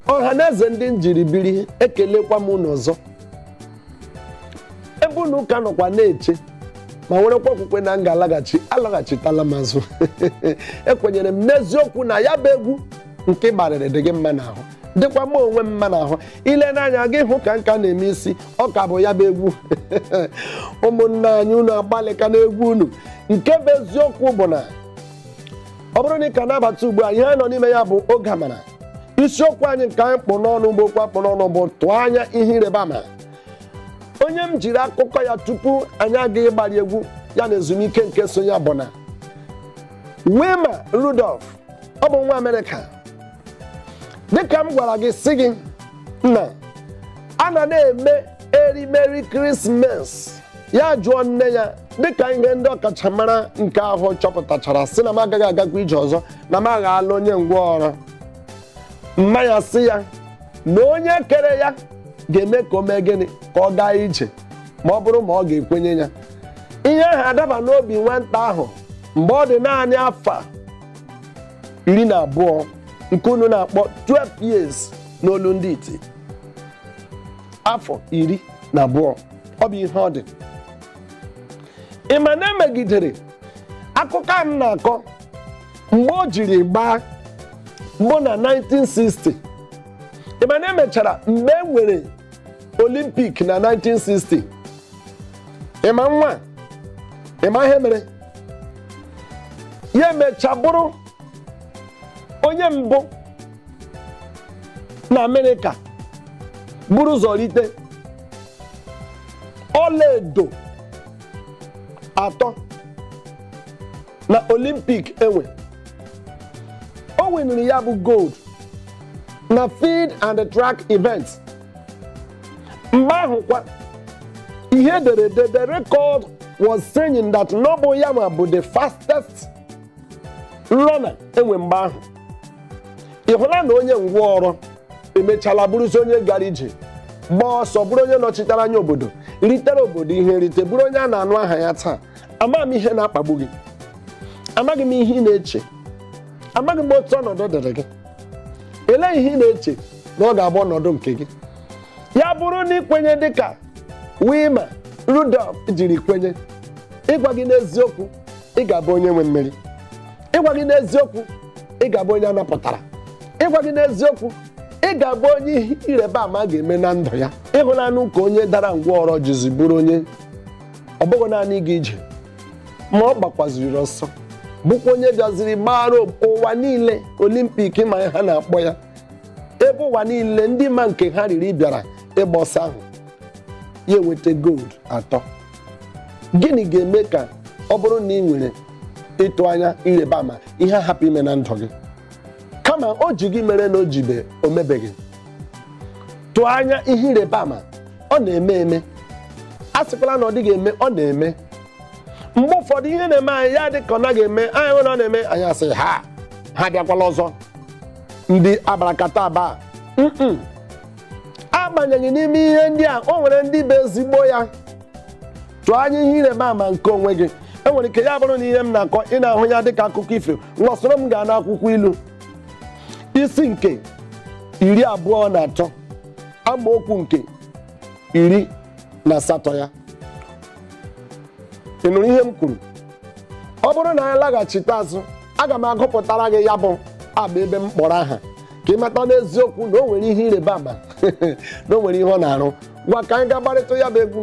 ọhaneze ndị m jiri biri ekelekwa m unu ọzọ ebe unu ka nọkwa na-eche ma nwerekwa okwukwe na m ga-alaghachi alaghachitala m azụ ekwenyere m n'eziokwu na ya bụ egwu nke ị gbarịrị dị gị mma n'ahụ dịkwa mụ onwe m mma n'ahụ i lee m anya gị hụ ka m ka na-eme isi ọ ka bụ ya bụ egwu ụmụnna anyị unu agbalịka n'egwu unu nke bụ eziokwu bụ na ọ bụrụ na ị ka na-abata ugbu a ihe anyị nọ n'ime ya bụ oge amara isiokwu anyị nke anyị kpụ n'ọnụ bụ okwu a kpụ n'ọnụ bụ tụọ anya ihe ịrịba ama onye m jiri akụkọ ya tupu anyị aga ịgbari egwu ya na ezumike nke so ya bụ na Wilma Rudolph ọ bụ nwa Amerịka dịka m gwara gị sị gị na a na-eme erimeri krismas ya jụọ nne ya dịka ihe ndị ọkachamara nke ahụ chọpụtachara sị na m agaghị agakwa ije ọzọ na m aghọọla onye ngwọrọ mma ya sị ya na onye kere ya ga-eme ka o mee gịnị ka ọ gaa ije ma ọ bụrụ ma ọ ga-ekwenye ya ihe ahụ adaba n'obi nwata ahụ mgbe ọ dị naanị afọ iri na abụọ nke unu na-akpọ 12 years n'olu ndị iti afọ iri na abụọ ọ bụ ihe ọ dị ị ma na emegidere akụkọ a m na-akọ mgbe o jiri gbaa bụ na 1960 ị ma na emechara mgbe e nwere olimpik na 1960 ị ma nwa ị ma ihe mere ya emecha bụrụ onye mbụ na amerịka buru ụzọ rite ọlaedo atọ na olimpik e nwe o winiri ya bụ gold na field and track event mgbe ahụkwa ihe e dere ede the record was saying that na ọ bụ ya nwa bụ the fastest runner e nwe mgbe ahụ ị hụla na onye ngwọrọ emechala bụrụzi onye gara ije gbaa ọsọ bụrụ onye nọchitere anya obodo ritere obodo ihe nrite bụrụ onye a na-anụ aha ya taa amaghị m ihe na-akpagbu gị amaghị m ihe ị na-eche amaghị m otu ọnọdụ dịrị gị elee ihe ị na-eche na ọ ga-abụ ọnọdụ nke gị ya bụrụ na i kwenye dịka Wilma Rudolph jiri kwenye ịgwa gị n'eziokwu ị ga-abụ onye nwe mmeri ịgwa gị n'eziokwu ị ga-abụ onye a napụtara ịgwa gị n'eziokwu ị ga-abụ onye ihe ịrịba ama ga-eme na ndụ ya ị hụlanụ ka onye dara ngwọrọ jizi bụrụ onye ọ bụghị naanị ịga ije ma ọ gbakwaziri ọsọ bụkwa onye bịaziri gbara ụwa niile olimpik ma ha na-akpọ ya ebe ụwa niile ndị ma nke ha riri bịara ịgba ọsọ ahụ ya enweta gold atọ gịnị ga-eme ka ọ bụrụ na ị nwere ịtụ anya ịrịba ama ihe ahapụ ime na ndụ gị kama o ji gị mere na o jibe o mebeghị tụọ anya ihe ịrịba ama ọ na-eme eme asịkwala na ọ dịghị eme ọ na-eme mgbe ụfọdụ ihe na-eme anyị ya dị ka ọ naghị eme anyị hụ na ọ na-eme anyị asị ha ha abịakwala ọzọ ndị abracadabra mm agbanyeghị n'ime ihe ndị a o nwere ndị bụ ezigbo ya tụọ anya ihe ịrịba ama nke onwe gị enwere ike ya bụrụ na ihe m na-akọ ị na-ahụ ya dịka akụkọ ifo ngwa soro m gaa n'akwụkwọ ilu isi nke iri abụọ na atọ amaokwu nke iri na asatọ ya ị nụrụ ihe m kwuru ọ bụrụ na anyị laghachite azụ aga m agụpụtara gị ya bụ abụ ebe m kpọrọ aha ka ị mata n'eziokwu na o nwere ihe ịrịba ama na o nwere ihe ọ na-arụ ngwa ka anyị gaa gbarịta ya bụ egwu